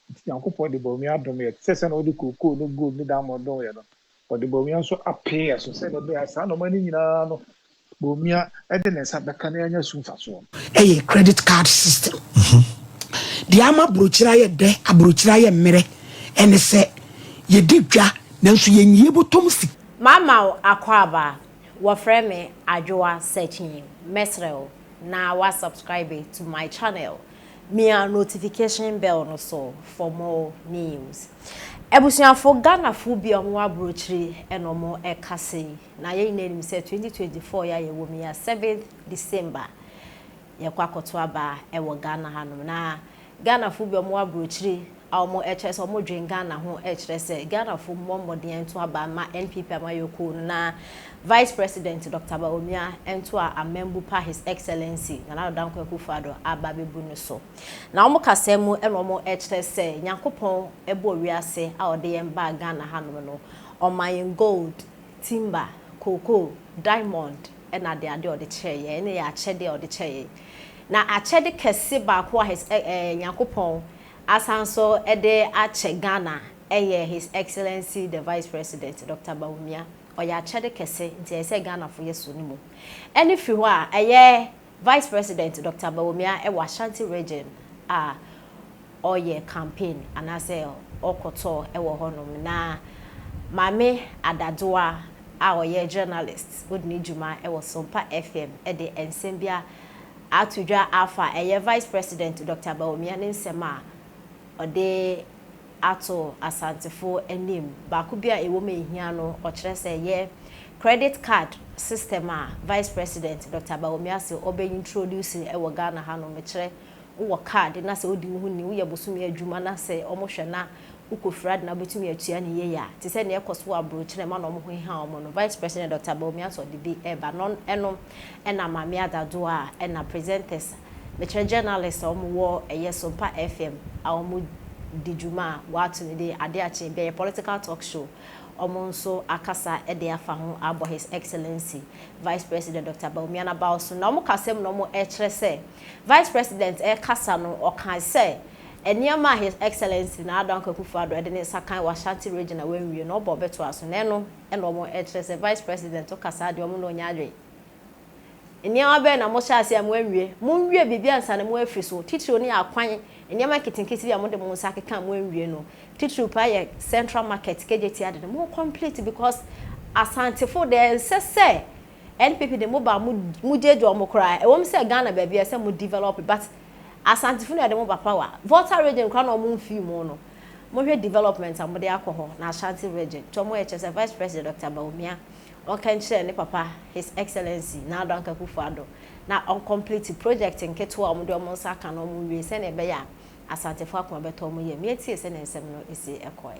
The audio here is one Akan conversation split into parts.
Enti Nyankopɔn de bɔwemia dom yɛn, te sɛ sɛnea ɔde kookoo ne gold ne diamond dom yɛn no. Ɔde bɔwemia nso apee yɛn so, sɛnea ɛbɛyɛ a saa nneɛma no nyinaa no, bɔwemia de ne nsa bɛka na yɛanya so mfasoɔ no. Ɛyɛ credit card system. Deɛ ama aburokyire ayɛ dɛ, aburokyire ayɛ mmerɛ, ɛne sɛ, yɛdi dwa, nanso yɛnyi yɛn bɔtɔm sika. Mama wo akwaaba, wɔfrɛ me Adwoa Sekyii, mɛsrɛ wo na woasubscribe to my channel Mia notification bell no so for more news. Abusuafo Ghanafo bi a wɔwɔ abrokyire na wɔn ɛkasa yi. Na yɛn nyinaa nim sɛ 2024 yi a yɛwɔ mu yi a 7th December yɛkɔ akɔto aba ɛwɔ Ghana hanom. Na Ghanafo bi a wɔwɔ abrokyire a wɔn ɛkyerɛ sɛ wɔn dwen Ghana ho ɛkyerɛ sɛ Ghanafo mmɔ mmɔden ɛnto aba mma NPP amayɔkuo no na Vice President Doctor Bawumia ɛnto a amambu pa His Excellency Nana Addo Dankwa Akuffo Addo aba abɛbu no so. Na wɔn kasaa mu ɛna wɔn ɛkyerɛ sɛ Nyankopɔn ɛbɔɔ wiase a ɔde yɛn baa Ghana hanom no ɔmaa yɛn gold, timber, cocoa, diamond ɛna ade ade a ɔde kyɛɛ yɛn ɛna ɛyɛ akyɛde a ɔde kyɛɛ yɛn. Na akyɛde kɛse baako a His Nyankopɔn Asan nso de akyɛ Ghana yɛ His Excellency the Vice President Doctor Bawumia. Ɔyɛ akyɛde kɛse nti ɛyɛ sɛ Ghanafo yɛ so no mu. Ɛne firi hɔ a ɛyɛ Vice President Doctor Bawumia wɔ Ashanti Region a ɔyɛ campaign anaasɛ ɔkɔtɔ wɔ hɔ nom na Maame Ada Doa a ɔyɛ journalist ɔdi ne dwuma wɔ Sompa FM de nsɛm bi a ato dwa afa ɛyɛ Vice President Dɔkta Bawumia ne nsɛm a ɔde ato Asantefo anim. Baako bi a ɛwom a ɛhia no ɔkyerɛ sɛ ɛyɛ Credit Card system a Vice President Dɔkta Bawumia se ɔbɛ introduce wɔ Ghana ha nom. Mekyerɛ, wo wɔ card na sɛ wo di wo ho ni, wo yɛ bosome adwuma na sɛ wɔn hwɛ na wo kɔ firi ade na wo bɛtumi atua ne yie a, te sɛ nea ɛkɔ so wɔ abrokyire na ɛma na wɔn ho heha wɔn no, Vice President Dɔkta Bawumia se ɔde bi reba. Non ɛno. ɛna Maame Ada Doa a ɛna presenters mekyerɛ journalists a wɔn wɔ ɛyɛ Sompa FM a wɔn di dwuma a wɔato no din Ade Akye bɛyɛ political talk show wɔn nso akasa de afa ho abɔ His Excellency Vice President Doctor Bawumia n'abaw so na wɔn kasam na wɔn ɛkyerɛ sɛ Vice President ɛkasa no ɔkae sɛ nneɛma a His Excellency Nana Dankwa Akufo Addo ɛde ne nsa kan wɔ Ashanti Region a wɔanwie no ɔba ɔbɛtoa so na ɛno ɛna ɔmo ɛkyerɛ sɛ vice president ɔkasaa deɛ ɔmo na ɔnya adwen nneɛma bɛn na mo hyɛ aseɛ a mo anwie mo nwie biribi ansa na mo afiri so titiriw no yɛ akwan nneɛma nketenkete bi a mo de mo nsa akeka a mo anwie no titiriw paa yɛ central market kejeti ade no mo complete because asantefo deɛ ɛnsɛ sɛ npp de mo ba mo mo gyegye ɔmo koraa ɛwɔ mu sɛ Ghana baabi a ɛsɛ mo develop but asantefo na ɛde mo ba power volta region koraa na ɔmo mfii mo no Mohwɛ development a wɔde akɔ hɔ na Ashanti Region nti wɔyɛ kyerɛ sɛ Vice President Doctor Bawumia ɔnka nkyerɛ ne papa His Excellency Nana Addo Anka Akuffo Addo na ɔncomplete project nketewa a wɔde wɔn nsa aka no wɔn nwie sɛnea ɛbɛyɛ a Asantefo akoma bɛtɔ wɔn yam. Yɛtiee sɛnea nsɛm no si kɔe.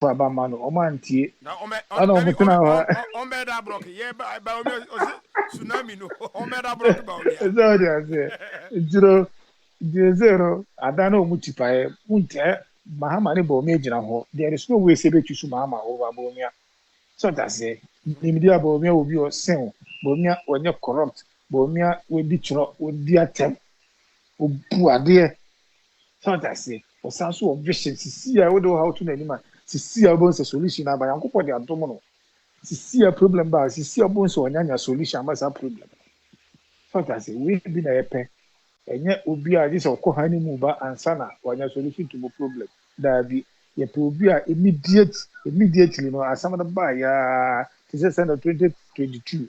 fa ba ma no ɔmo antie ɛna ɔmo tena hɔ ɔmbɛda brɔk yɛ ba omi ɔsi tsunami no ɔmbɛda brɔk ba omi a ɛsɛ ɔdi aseɛ ntino ntino se no ada na ɔmo ti paɛ mo ntɛ mahama ne ba omi agyina hɔ there is no way sɛ bɛtu so mahama ɔba ba omi a sɛ ɔdi aseɛ nimdi a ba omi a obi ɔsen ba omi a ɔnyɛ corrupt ba omi a wɔdi twerɛ wɔdi atɛm Obu adeɛ. So wate aseɛ? Ɔsan so wɔ vision. Sisi a wode wo haw to n'anim a, sisi a wobɛhu sɛ solution no aba. Nyankopɔn de adom no. Sisi a problem ba a, sisi a wobɛhu sɛ ɔnyanya solution ama saa problem no. So wate aseɛ? Wei bi na yɛpɛ. Ɛnyɛ obi a gye sɛ ɔkɔ han mu ba ansa na wanya solution to mo problem. Daabi. Yɛpɛ obi a immediate, immediately no asɛm no baeɛ ara te sɛ sɛdeɛ 2022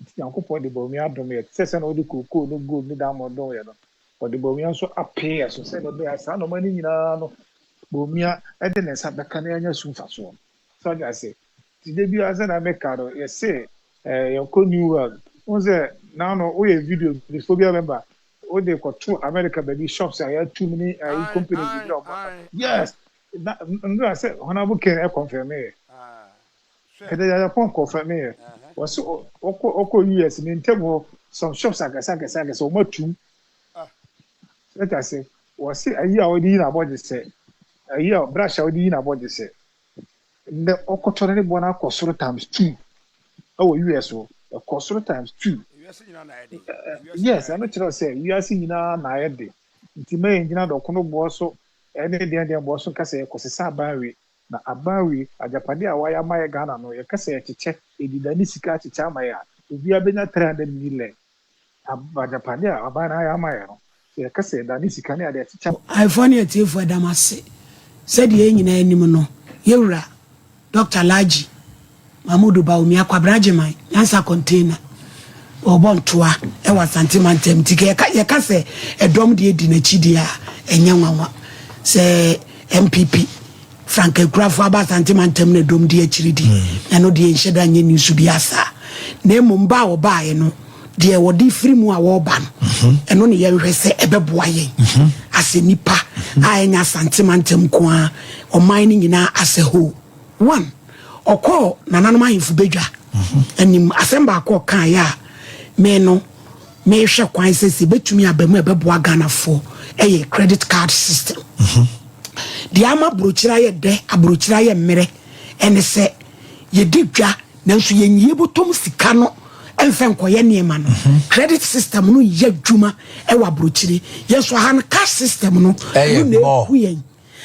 Enti Nyankopɔn de bɔwemia adom yɛn te sɛ sɛnea ɔde kookoo ne gold ne diamond dom yɛn no. Ɔde bɔwemia nso apee yɛn so sɛnea ɛbɛyɛ a saa nneɛma no nyinaa no, bɔwemia de ne nsa bɛka na yɛanya so mfasoɔ. So ate ase? Nti da biara sɛnea meka no, yɛse eh, yɛnkɔ New World. Wohu sɛ na ano woyɛ video bifoɔ bi a bɛba, wode kɔto America baabi, shops a yɛato mu ne ayi Aye, companies aye, biribi a wɔn aba. aye. Yes! Na, Nora, sɛ Honourable Ken confirm yɛ. Ah. Kɛdɛ yaya pɔn kɔ fɛ meyɛ wɔsi ɔkɔ ɔkɔ US ne ntɛm hɔ some shops akɛse akɛse akɛse wɔn atum sɛte ase wɔsi ayi a ɔde yi na abɔ gyesɛ ayi a brush a ɔde yi na abɔ gyesɛ ndɛ ɔkɔtɔ ne ne bɔ no akɔ soro times two ɛwɔ US hɔ ɛkɔ soro times two yes ɛno kyerɛ sɛ wiase nyinaa na ayɛ de nti mɛyɛ ngyina dɔkono boɔ so ɛne deɛn deɛn boɔ so nkasa yɛ kɔsesa aban we Na aban wei, agyapadeɛ a wayɛ ama yɛ Ghana no, yɛka sɛ yɛkyekyɛ, yɛde dan ne sika akyekyɛ ama yɛ a, obiara bɛnya three hundred millɛn. Ab, agyapadeɛ a aban no ayɛ ama yɛ no, sɛ yɛka sɛ yɛdane sika ne adeɛ akyekyɛ a. Ayefoɔ ne atiefoɔ ɛda mo ase sɛ deɛ yɛn nyinaa nim no, yɛn wura Dɔkta Largy Mahmudu Bawumia, Kwabena Agyeman, Nyansa Container, ɔrebɔ ntoa wɔ Asante mantam nti yɛka sɛ ɛdɔm deɛ di n'akyi deɛ a ɛnyɛ nwanwa sɛ MPP Frank Akurafo aba Asante mantam na ɛdɔm di akyiri di hmm. ɛno deɛ nhyɛ da nyɛ news bi asaa na mmom ba a wɔbaeɛ no deɛ wɔde firi mu a wɔreba no mhm. ɛno ne yɛnhwɛ sɛ ɛbɛboa yɛn mhm. asɛ nipa mhm. a ɛnyɛ Asante mantam nko a ɔman no nyinaa asɛ hoo One, ɔkɔɔ nananom ahemfo badwa anim. Asɛm baako a ɔkaeɛ a me no mehwɛ kwan sɛ sɛ ɛbɛtumi aba mu a ɛbɛboa Ghanafoɔ ɛyɛ credit card system. Deɛ ama aburokyire ayɛ dɛ, aburokyire ayɛ mmerɛ ɛne sɛ yɛdi dwa nanso yɛnyi yɛbɔtɔm sika no ɛmfa nkɔyɛ nneɛma no. Credit system no yɛ adwuma ɛwɔ aburokyire. Yɛn nso aha no cash system no ɛno na ɛku yɛn.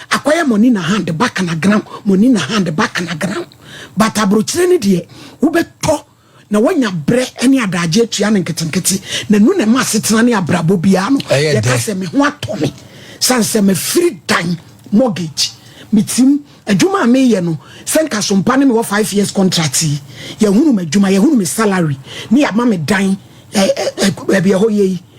Akɔyɛ money na hand back na ground, money na hand back na ground. But abrokyire no deɛ wobɛtɔ na wanya brɛ ne adaagye atua no nketenkete na nu na ɛma asetena ne abrabɔ biara no yɛka sɛ me ho atɔ me sane sɛ mafiri dan mortgage metim adwuma a meyɛ no sɛ nka so mpa ne mewɔ five years contract yi yɛhunu m'adwuma yɛhunu me salary ne yɛama me dan baabi ɛhɔ yɛ yi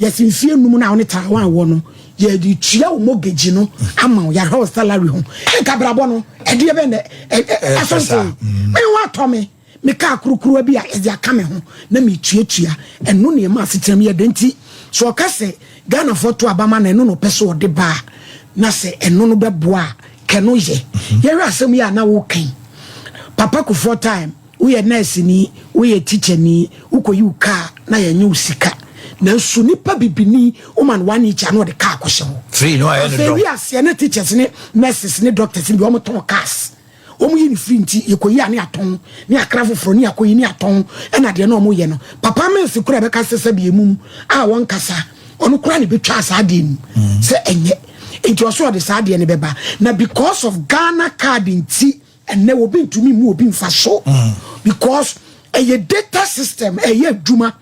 Yɛse mfie num no a wo ne Taiwan wɔ no, yɛde tua wo mortgage no ama wo, yɛahwɛ wo salary ho. Anka brabɔ no, ɛdeɛ bɛn na ɛso nte? Me ho atɔ me, me kaa kurukuruwa bi a yɛde aka me ho na metuatua. Ɛno na ɛma asetena mu yɛ den. Nti sɛ ɔka sɛ Ghanafoɔ to aba ma no, ɛno na ɔpɛ sɛ ɔde ba a, na sɛ ɛno no bɛboa a, kɛno yɛ. Yɛhwɛ asɛm yi a na woka yi, Papa Kufuor time, Woyɛ nɛɛseni, woyɛ tikyani, wokɔyi wo kaa na yɛnnye wo sika. Nanso nipa bibini, woma no one each a na ɔde kaa kɔhyɛ hɔ. Free no ayɛ no dɔn. Afei wiaseɛ ne teachers ne nurses ne doctors no deɛ wɔtɔn cars. Wɔyi no free nti yɛkɔyi a ne yɛatɔn ne yɛakra foforɔ ne yɛakɔyi ne yɛatɔn ɛna deɛ na wɔyɛ no. Papa Mills koraa bɛka sɛ sɛbi emum a wɔnkasa ɔno koraa na ɛbɛtwaa saa adeɛ no mu sɛ ɛnyɛ. Nti ɔsɛ ɔde saa adeɛ no bɛba na because of Ghana card nti Ɛnnɛ obi ntumi mmu obi mfa so because ɛyɛ data system ɛyɛ adwuma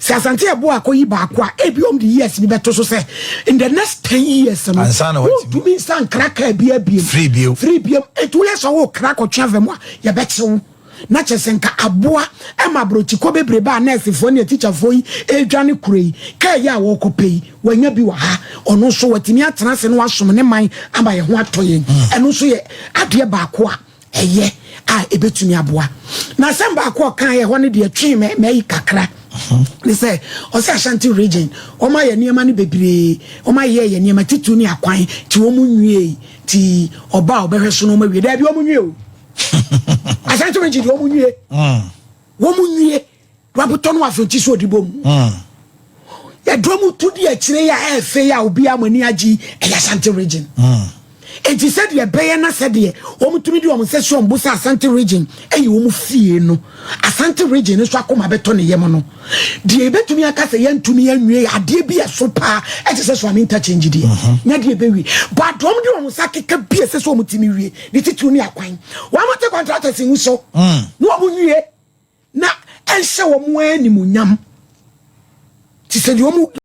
sɛ asante ɛbo akɔyi baako a ebi wɔn de years bi bɛto so sɛ in the next ten years no wontumi nsa nkra kaa bi abiem firi biem firi biem etu yɛ sɛ wɔn kra kɔtwe afɛ mu a yɛbɛkyew na kyɛ sɛ nka aboa ɛma aburokyikɔ bebrebe a nɛɛsefoɔ ne atikyafoɔ yi ɛredwane kuro yi kaa yi a wɔrekɔpɛ yi Wanya bi wɔ ha, ɔno nso watumi atena ase na wasom ne man ama yɛn ho atɔ yɛn. Ɛno nso yɛ adeɛ baako a ɛyɛ a ɛbɛtumi aboa. Na asɛm baako a ɔkaeɛ hɔ no deɛ twee me m'ayi kakra ne sɛ ɔsɛ Ashanti region wɔn ayɛ nneɛma no bebree wɔn ayɛ yɛ nneɛma titiriw ne akwan ti wɔn nwie ti ɔba a ɔbɛhwɛ so na wɔn awie daabi wɔn nwie o Ashanti region deɛ wɔn nwie wɔn nwie. Wabotɔ no afɔnkyi so ɔde bom. Hmm. Yɛdɔm tu di akyire yi a ɛyɛ fɛ yi a obiara mo ani agye yi ɛyɛ Asante region. Hmm. Enti sɛdeɛ ɛbɛyɛ na sɛdeɛ wɔtumi de wɔn nsa si wɔn bo sɛ Asante region ɛyɛ wɔn fie no, Asante region nso akoma bɛtɔ ne yam no. Deɛ yɛbɛtumi aka sɛ yɛntumi anwie yɛ adeɛ bi ɛso paa ɛte sɛ Suame interchange deɛ mhm. nyɛ deɛ ɛbɛwie. Bɔ adɔm de wɔn nsa keka bi ɛsɛ sɛ wɔtumi wie ne titiriw ne akwan. Wɔn te contractors ngu so hmm. na wɔn nwie. na ɛnhyɛ wɔn ara animuonyam te sɛ deɛ wɔn.